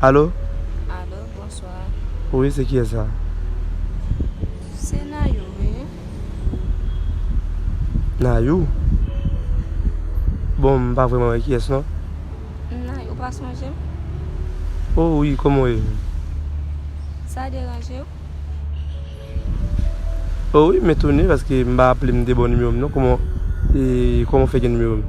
Allo. Allo bonsoir. Wi se kiyes la. Se nayou wi. Nayou? Bon m pa vreman wè kiyes non. Nayou ou pa sonje m? Oh wi koman w ye? Sa deranje w? Oh wi m etone paske m pa aple m de bon nimewo m non koman w fè gen nimewo m?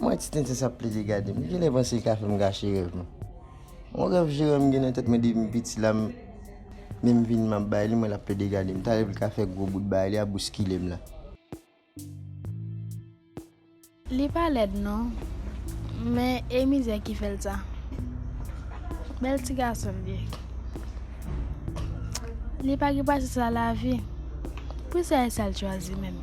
Mwen ti tenten sa plezi gade m. M genlè panse li ka fè m gache rèv m. Yon rèv Jérôme m gen nan tèt mwen depi m piti la m menm vini m ap bay li mwen l ap plede gade m. Talè pou l ka fè gwo bout bagay li a bouskile m la. Li pa lèd non. Men e mizè ki fè l sa. Bèl ti gason l ye. Li pa gen pase sa lavi. Pou sa e sa l chwazi menm.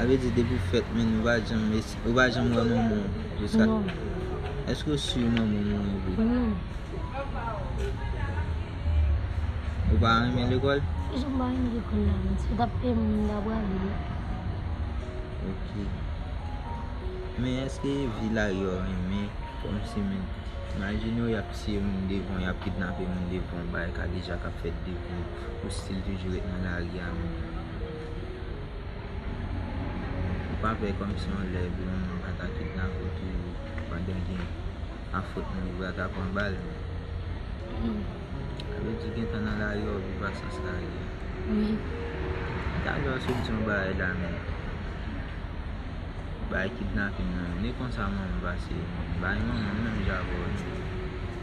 Sa vle di depiw fèt menn ou pa janm esi ou pa janm wè manmanw jiska non eske ou su manmanw mouri vre non ou pa renmen lekòl kijan m pa renmen lekòl la menm si yo tap peyem m ta prale wi ok men eske vi la yo renmen kòmsi menn imajine w yap tiye moun devanw yap kidnape moun devanw bagay kadejak ap fèt devanw. Ou still toujou ret nan lari a menm jan an. Ou pa pè kòmsi yon lè yon moun ka ta kidnape w toujou pandan gen pa fot moun yo pral ta pran bal men. Sa vle di gentan nan lari a ou viv ak sans lari a. Wi. Talè ou sot di yon bagay la men bagay kidnaping nan menm. E konsa manman pase bay manman menm jan avè w la.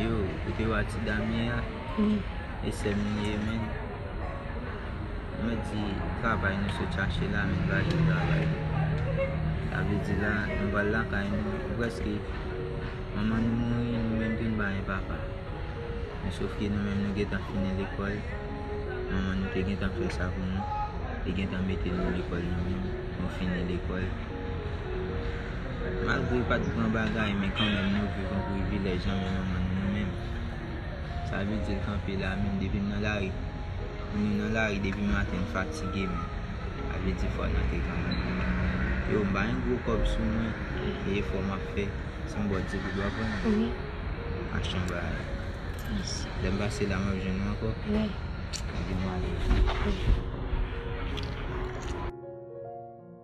Yo, kote wa ti dam ye a? E sè m li ye menm? Mwen di, travay nou sot chache la nou ba nou travay. Sa vle di la, nou pral lakay nou, prèske manman nou mouri nou menm tou nou pa gen papa. Men sof ke nou menm nou gen tan fini lekòl, manman nou te gen tan fè sa pou nou, li gen tan mete nou lekòl nou menm, nou fini lekòl. Malgre pa t gran bagay men kanmenm nou viv yon privilèj nan men yon moun nou menm. Sa vle di l kanpe la menm depi m nan lari. Moun yo nan lari depi maten m fatige men sa vle di fwa nan te gran moun nou menm. Yo m pa yon gwo kòb sou mwen e efò m ap fè se m ba w di pou dwa pran l. Achte yon bagay. Lè m pase la m ap jwenn ou ankò? Wi. Anben m ale.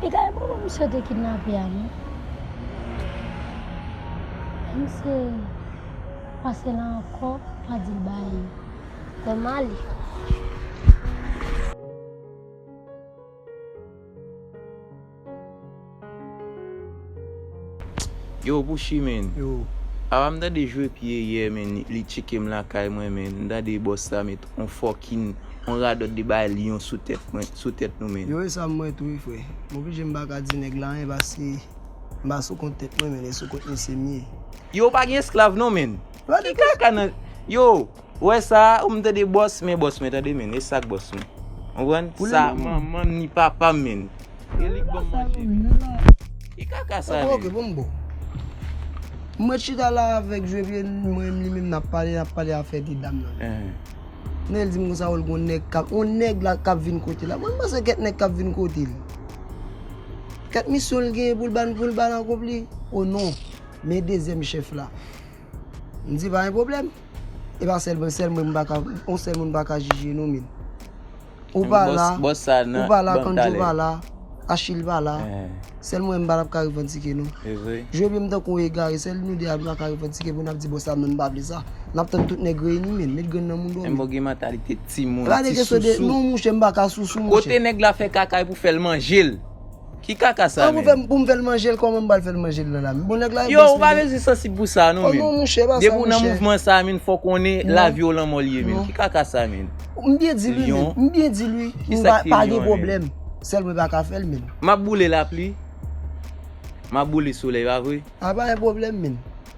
Li ka gen pwoblèm misye te kidnape a non. Menm si se pase la ankò pa dil baye. Mwen male. Yo Pushy menn Apa m tande jwe pye yè menn li tcheke m lakay mwen menn m tande bòs la met on fòkin on radòt de bagay lyon sou tèt mwen sou tèt nou menn. Yo esa m wè tou wi frè. M oblije m pa ka di nèg la anyen paske m pa sou kont tèt mwen menn e sou kont mesye m ye. Yo pa gen esklav non menn. Ki kaka nan Yo. Ou wè sa, ou m tande bòs men bòs mwen tande men, e sak bòs mwen. Konprann? Sa manman m ni papa m men. E li k banm manje men. Ki kaka sa menm? Ok ok bon m bo. M ret chita la avèk Jovie mwen m li menm nap pale nap pale afè de dam nan. Men el di m konsa wèl gon nèg kap on nèg la kap vin kote l la. Mwen m panse kèt nèg kap vin kote l. Kèt misyon l genyen pou l ba n pou l ba n akonpli. O non men dezyèm chèf la. M di pa gen pwoblèm. E pa sèl mwen, sèl mwen m pa ka, on sèl moun m pa ka jije non min. Ou pa la, ou pa la, Kandjo pa la, Achil pa la, sèl mwen m pa ka revandike non. Jwe pye m tankou on egare, sèl nou 2 a m pa ka revandike pou n ap di bon sa non m pa vle sa. N ap tann tout nèg reyini min, met grenn nan moun dòmi. Menbò gen mantalite ti moun, ti sousou. Non mouche m pa ka sousou mouche. Kote nèg la fè kaka e pou fè l manje l. Ki kaka sa menm? An pou m fè l manje l kòman m pral fè l manje l nan la men. Bon nèg la yon bòs li menm. Yo ou pa bezwen sansib pou sa non menm. Oh non mouche e pa sa mouche. Depi ou nan mouvman sa menm fò w konnen lavi w lanmò l ye menm. Ki kaka sa menm? M byen di l wi menm. M byen di l wi. Ki sa k te lyon an menm? M pa gen pwoblèm. Sèl mwen pa ka fè l menm. M ap boule lapli. M ap boule solèy pa vre? A pa gen pwoblèm menm.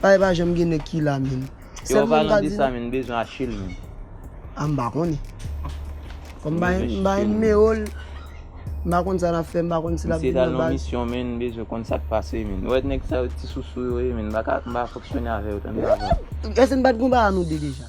Pale pa janm gen nèg ki la menn. Yo anpalan de sa menn m bezwen achel menn. Ah m pa konnen. Kòm m pa m pa gen nimero l. M pa konn sa l ap fè m pa konn si l ap vin nan baz. Misye t al nan misyon menn m bezwen konn sa k pase menn. Ou wè nèg sa yo ti sousou yo ye menn m pa ka m pa ka fonksyone avè yo tande avè m. Èske n pa t gen yon bagay nou 2 deja?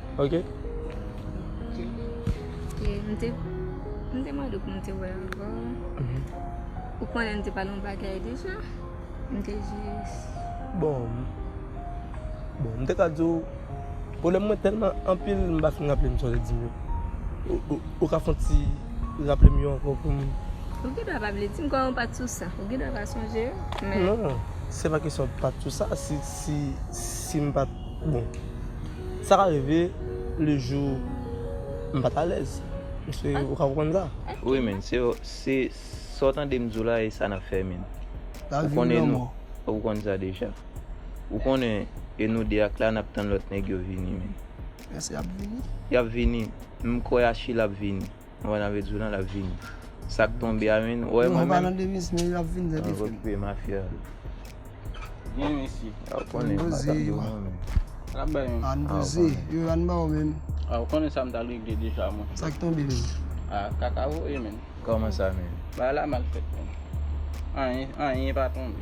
Ok. E m te m te mande w pou m te wè avè w. Ou konnen m te pale yon bagay deja. M te jis. Bon, bon m te ka di w pwoblèm mwen tèlman anpil m pa fin raple m sa w te di m yo. Ou ka fè yon ti raple m yo ankò pou m. Ou gen dwa pa vle di m kòm ou pa t sou sa. Ou gen dwa pa sonje yo. Non, se pa kesyon pa t sou sa. Si m pa t. Bon, sa ka rive le jou m pa t alèz. Paske ou ka konprann sa. Wi menn, se se sa w tande m di w la e sa n ap fè menn. Ou konnen nou, ou konn sa deja. Ou konnen e nou 2 ak la n ap tann lòt nèg yo vini menn. Eske y ap vini? Y ap vini. M kwè Achille ap vini. Mwen nan vezulan lap vini. Sak tonbe a menn. Wè mwen menm. Mwen okupe mafya. Byen mesi. Aw konnen sa map di ou menm. Lap bay menm. An doze. Yo an baw menm. Aw konnen sa mta regle deja mwen. Sak tonbe menm. A kaka voye menm. Koman sa menm. Bagay la mal fèt menm. Anyen anyen pa tonbe.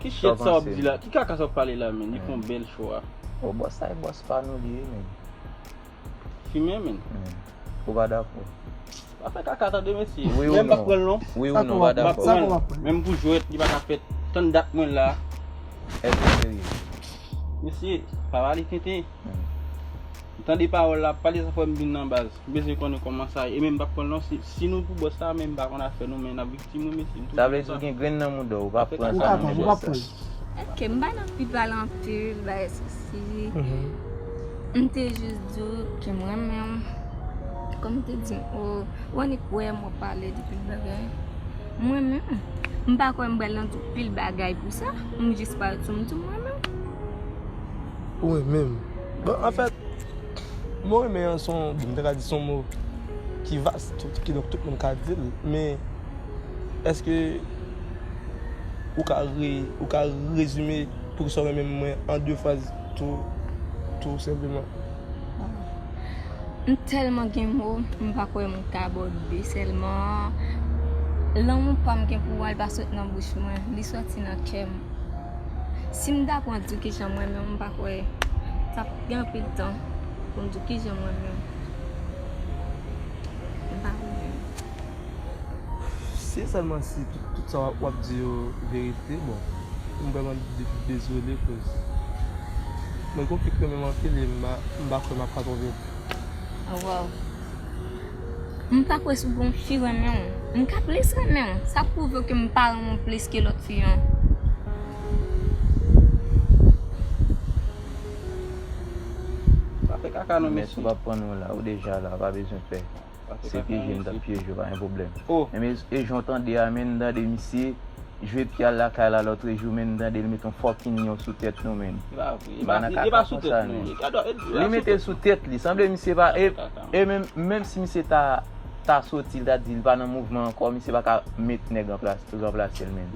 Ki shit sa wap di la, ki kaka sa wap pale la menn, li fon bèl cho a. Oh boss sa e boss pa nou li ye menn. Fimè menn. Ou pa dakò. Pa fè kaka tande mesye. Wi ou non. Menm pa pranl non. Wi ou non ou pa dakò. Sa kou wap pranl. Menm pou jwèt li paka fèt. Tann dat mwen la. Eske ou serye. Mesye, pa pale tenten. M tande pawòl la, pale sa fòm bin nan baz. M bezwen konnen kòman sa ye. E menm m pa pranl non. Si nou pou boss la menm m pa konn afè nou men nap. Sa vle di ou gen grenn nan mouda w ou pa pran sa nan mouda w sa. Ok m pa nan pi pale anpil bay sousi m te jis di w ke m renmen w kòm m te di w ou annik wè m wap pale de pil bagay m renmen w m pa kwè m pral nan tout pil bagay pou sa m jis pral di w m di w m renmen w. Ou renmen m bon anfèt mo renmen an son bon m ta ka di son mo ki vas. Kidonk tout moun ka di l. Men, èske ou ka ou ka rezime poukisa w renmen mwen an de fraz tou tou senpleman? M tèlman gen mo, m pa kwè m ka abòde sèlman. Lanmou pa m gen pou ou a, li pa sot nan bouch mwen. Li soti nan kè m. Si m ta pran di w kijan m renmen w, m pa kwè sa ap gen anpil tan pou m di w kijan m renmen w. M pa konnen. Si e sèlman si tout sa w ap di yo verite, bon, m vrèman dezole kouz mwen gen yon fi k renmen m anpil e m pa kwè m ap ka twonpe l. A waw. M pa kwè si w gen yon fi renmen w. M ka plis renmen w. Sa pwouve ke m pa renmen w plis ke lòt fi an. Pa fè kaka non mesye. Mès ou pa pran nou la ou deja la pa bezwen pè. Se pyeje m tap pyeje w pa gen pwoblèm. Enben e jan w tande a menn tande misye jwe pi al lakay la lotrejou menn tande l met yon fòkinn lion sou tèt nou menn. M pa nan kaka konsa menn. Li mete l sou tèt li sanble misye pa e menm menm si misye ta ta soti l ta di l pa nan mouvman ankò misye paka met nèg ranplase l menn.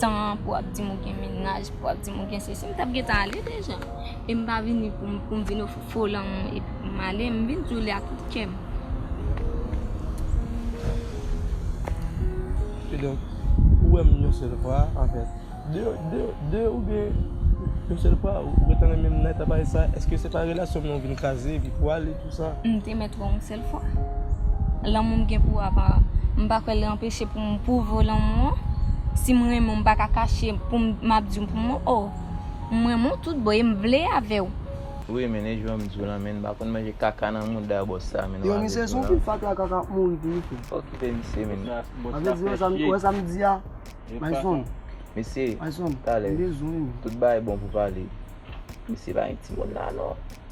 tan pou ap di m ou gen mennaj, pou ap di m ou gen sesi, m t ap gen tan ale deja. E m pa vini pou m vin ofri w fo lanmou epi pou m ale. M vin di w li ak tout kè m. E donk, ou wè m yon sèl fwa, anfen, de ou byen yon sèl fwa, ou gentan renmen m nan eta parèy sa, èske se pa relasyon m nan ou vin kraze epi pou ale tout sa? M te mèt wè w yon sèl fwa. sèl fwa. Lanmou m gen pou ou a pa. M pa kwè li anpeche pou m pwouve lanmou an. Si m renmen w m pa ka kache pou m m ap di w pou m o. M renmen w tout bon e m vle avè w. Wi men e jwèm di w lan men m pa konn manje kaka nan mouda bòs sa men wap vin di w lan. Fatra a kaka ap mouri tou wi frè. Okipe misye men. Anvè di w wè sa m di a my son. Mesye talè tout bagay bon pou pale. Mesye pa gen timoun la non.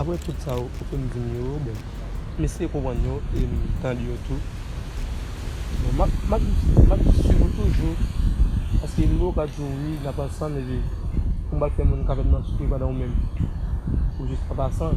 Aprè tout sa ou fè m di m yo, bon, m eseye konprann yo e m tande yo tou. Bon, m ap swiv ou toujou paske m gen okap di w wi, n ap ansanm epi pou m pa fè moun kapab nan soufri pandan ou menm ou jis ap asanm.